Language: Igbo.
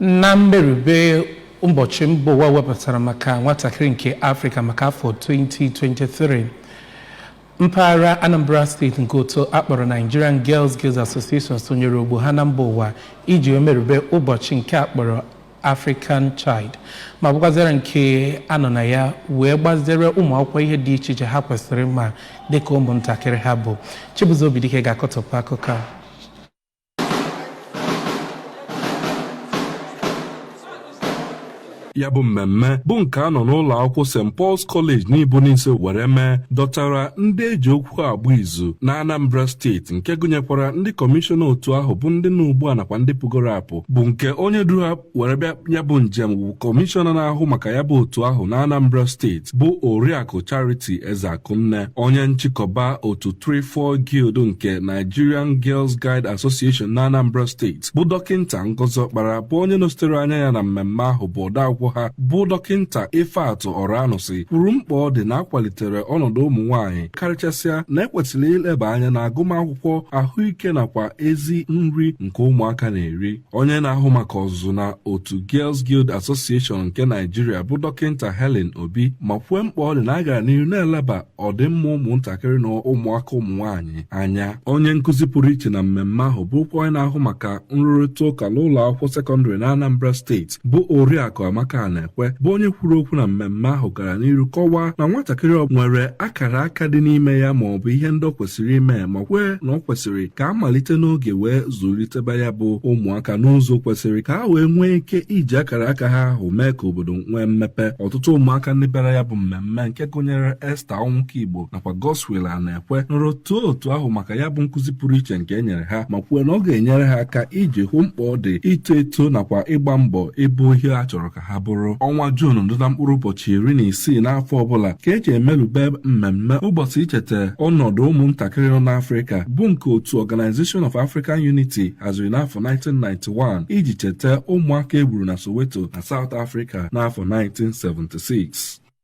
Na mmerube ụbọchị mba ụwa wepụtara maka nwatakịrị nke Afrịka maka afọ 2023, mpaghara Anambra steeti nke otu akpọrọ Nigerian Girls Guild Association sonyere ogbo ha na mba ụwa iji wee merube ụbọchị nke akpọrọ African Child ma bụkwazịara nke anọ na ya wee gbazere ụmụ akwụkwọ ihe dị iche iche ha kwesịrị ma dịka ụmụntakịrị ha bụ. Chibuzo Obidike ga-akọtọpụ akụkọ a. ya bụ mmemme bụ nke a nọ n'ụlọ akwụkwọ St Paul's College Nibo-Nise were mee dọtara ndị eji okwu agba izu na Anambra steeti nke gụnyekwara ndị kọmishọna otu ahụ bụ ndị nọ ugbu a nakwa ndị pụgoro apụ bụ nke onye duru were bịa ya bụ njem bụ kọmishọna na-ahụ maka ya bụ otu ahụ na Anambra steeti bụ Oriakụ Charity Ezeakunne onye nchịkọba otu Trefoil Guild nke Nigerian Girls Guide Association na Anambra steeti bụ dọkịnta Ngozi Okpara bụ onye nọsitere anya ya na mmemme ahụ bụ odeakwụkwọ ha bụ dọkịnta Ifeatụ Ọranụsị kwuru mkpa ọ dị na akwalitere ọnọdụ ụmụ nwaanyị karịchasịa na ekwesịrị ileba anya na agụmakwụkwọ ahụike nakwa ezi nri nke ụmụaka na-eri onye na-ahụ maka ọzụzụ na otu Girls Guild Association nke Naijiria bụ dọkịnta Helen Obi ma kwue mkpa ọ dị na a gara n'ihu na-eleba ọdịmma ụmụntakịrị na ụmụaka ụmụ nwaanyị anya onye nkụzi pụrụ iche na mmemme ahụ bụkwa onye na-ahụ maka nrụrịta ụka n'ụlọ akwụkwọ sekọndịrị na Anambra steeti bụ Oriakụ Amaka Anaekwe bụ onye kwuru okwu na mmemme ahụ gara n'iru kọwaa na nwatakịrị ọ nwere akara aka dị n'ime ya ma ọ bụ ihe ndị ọ kwesịrị ime ma kwee na ọ kwesịrị ka a malite n'oge wee zụliteba ya bụ ụmụaka n'ụzọ kwesịrị ka ha wee nwee ike iji akara aka ha ahụ mee ka obodo nwee mmepe ọtụtụ ụmụaka ndị bịara ya bụ mmemme nke gụnyere Esther Ọnwụka Igbo nakwa Godswill Anae kwe nọrọ too otu ahụ maka ya bụ nkụzi pụrụ iche nke e nyere ha ma kwue na ọ ga-enyere ha aka iji hụ mkpa ọ dị ito eto nakwa ịgba mbọ ịbụ ihe a chọrọ ka ha bụrụ ọnwa Juun dị na mkpụrụ ụbọchị iri na isii n'afọ ọbụla ka eji emelube mmemme ụbọchị icheta ọnọdụ ụmụntakịrị nọ n'Afrịka bụ nke otu Organization of African Unity haziri n'afọ 1991 iji cheta ụmụaka egburu na Soweto na South Africa n'afọ 1976